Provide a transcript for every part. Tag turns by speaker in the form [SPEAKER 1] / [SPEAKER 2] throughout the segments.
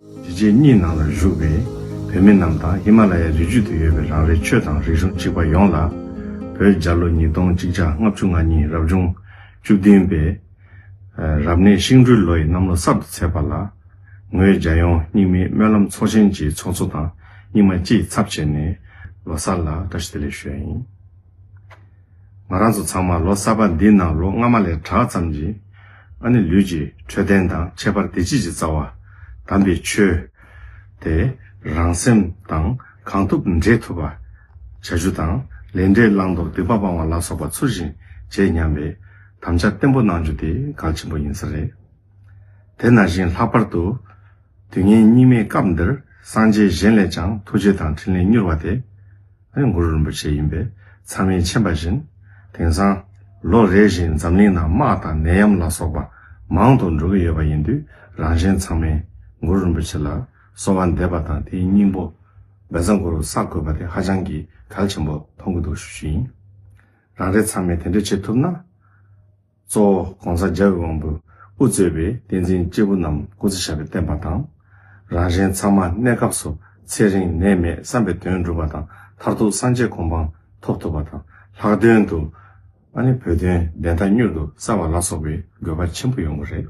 [SPEAKER 1] རི་རྗེས་གཉིས་ནང་ལ་བཞུགས་པའི་བོད་མི་རྣམས་དང་ཧི་མ་ལ་ཡའི་རི་རྒྱུད་དུ་ཡོད་པའི་རང་རེའི་ཆོས་དང་རིག་གཞུང་གཅིག་པ་ཡོངས་ལ། བོད་རྒྱ་ལོ་ཉིས་སྟོང་གཅིག་ཆ་ལྔ་བཅུ་ང་གཉིས་རབ་བྱུང་བཅུ་བདུན་པའི། རབ་གནས་ཤིང་སྦྲུལ་ལོ་ཡི་གནམ་ལོ་གསར་དུ་ཚེས་པ་ལ། ངོས་རྒྱ་ཡོངས་སྙིགས་མའི་སྨོན་ལམ་ཚོགས་ཆེན་གྱི་ཚོགས་གཙོ་དང་སྙིགས་མ་སྐྱིད་ཚབ་བྱས་ནས་ལོ་གསར་ལ་བཀྲ་ཤིས་བདེ་ལེགས་ཞུ་ཡ་ཡིན། ང་རང་ཚོ་ཚང་མ་ལོ་གསར་པ་འདི་ནང་ལོ་སྔ་མ་ལས་དྲག་ཙམ་གྱིས། ཨ་ནི་ལུས་ཀྱི་འཕྲོད་བསྟེན་དང་ཁྱད་པར་བདེ་སྐྱིད་ཀྱི་རྩ་བ། དམ་པའི་ཆོས། དེ་རང་སེམས་དང་གང་ཐུབ་འདྲེས་ཐུབ་པ། བྱ་རྒྱུ་དང་ལས་འབྲས་བླང་དོར་སྡིག་པ་སྤང་བ་ལ་སོགས་པ་ཚུལ་བཞིན་བྱེད་སྙམ་པའི་དམ་བཅའ་བརྟན་པོ་གནང་རྒྱུ་དེ་གལ་ཆེན་པོ་ཡིན་ས་རེད། དེ་ན་བཞིན་ལྷག་པར་དུ། དུས་ངན་སྙིགས་མའི་སྐབས་འདིར་སངས་རྒྱས་གཞན་ལས་ཀྱང་ཐུགས་རྗེ་དང་ཕྲིན་ལས་མྱུར་བ་དེ། གུ་རུ་རིན་པོ་ཆེ་ཡིན་པས་ཚང་མས་མཁྱེན་པ་བཞིན། དེང་སང། ལོ་རེ་བཞིན་འཛམ་གླིང་ནང་དམག་དང་ནད་ཡམས་ལ་སོགས་པ་མང་དུ་འགྲོ་གི་ཡོད་པ་ཡིན་དུས་རང་གཞན་ཚང་མས། གུ་རུ་རིན་པོ་ཆེ་ལ་གསོལ་བ་འདེབས་པ་དང་དེའི་སྙིང་པོ། འབེ་བཟང་གུ་རུ་བསགས་དགོས་པ་དེ་ཧ་ཅང་གི་གལ་ཆེན་པོ་མཐོང་གི་འདུག་ཞུ་རྒྱུ་ཡིན། རང་རེ་ཚང་མས་དེ་འདྲ་བྱེད་ཐུབ་ན། གཙོ་བོ ྋགོང་ས ྋརྒྱལ་བའི་དབང་པོས་དབུ་གཙོས་པའི་བསྟན་འཛིན་སྐྱེས་བུ་རྣམས་སྐུ་ཚེ་ཞབས་པའི་བསྟན་པ་དང། རང་གཞན་ཚང་མ་གནས་སྐབས་སུ་ཚེ་རིང་ནད་མེད་བསམ་པའི་དོན་འགྲུབ་པ་དང་མཐར་ཐུག་སངས་རྒྱས་གོ་འཕང་ཐོབ་ཐུབ་པ་དང་ལྷག་དོན་དུ། ཨ་ནེ་བོད་དོན་བདེན་མཐའ་མྱུར་དུ་གསལ་བ་ལ་སོགས་པའི་དགོས་པ་ཆེན་པོ་ཡོང་གི་རེད།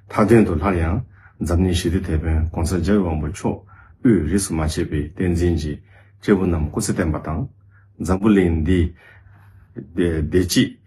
[SPEAKER 1] མཐའ་དོན་དུ་སླར་ཡང་འཛམ་གླིང་ཞི་བདེ་དེད་དཔོན ྋགོང་ས ྋརྒྱལ་བའི་དབང་པོ་མཆོག་དབུས་རིས་སུ་མ་ཆད་པའི་བསྟན་འཛིན་གྱི་སྐྱེས་བུ་རྣམས་སྐུ་ཚེ་བརྟན་པ་དང། འཛམ་བུ་གླིང་འདིའི་བདེ་སྐྱིད།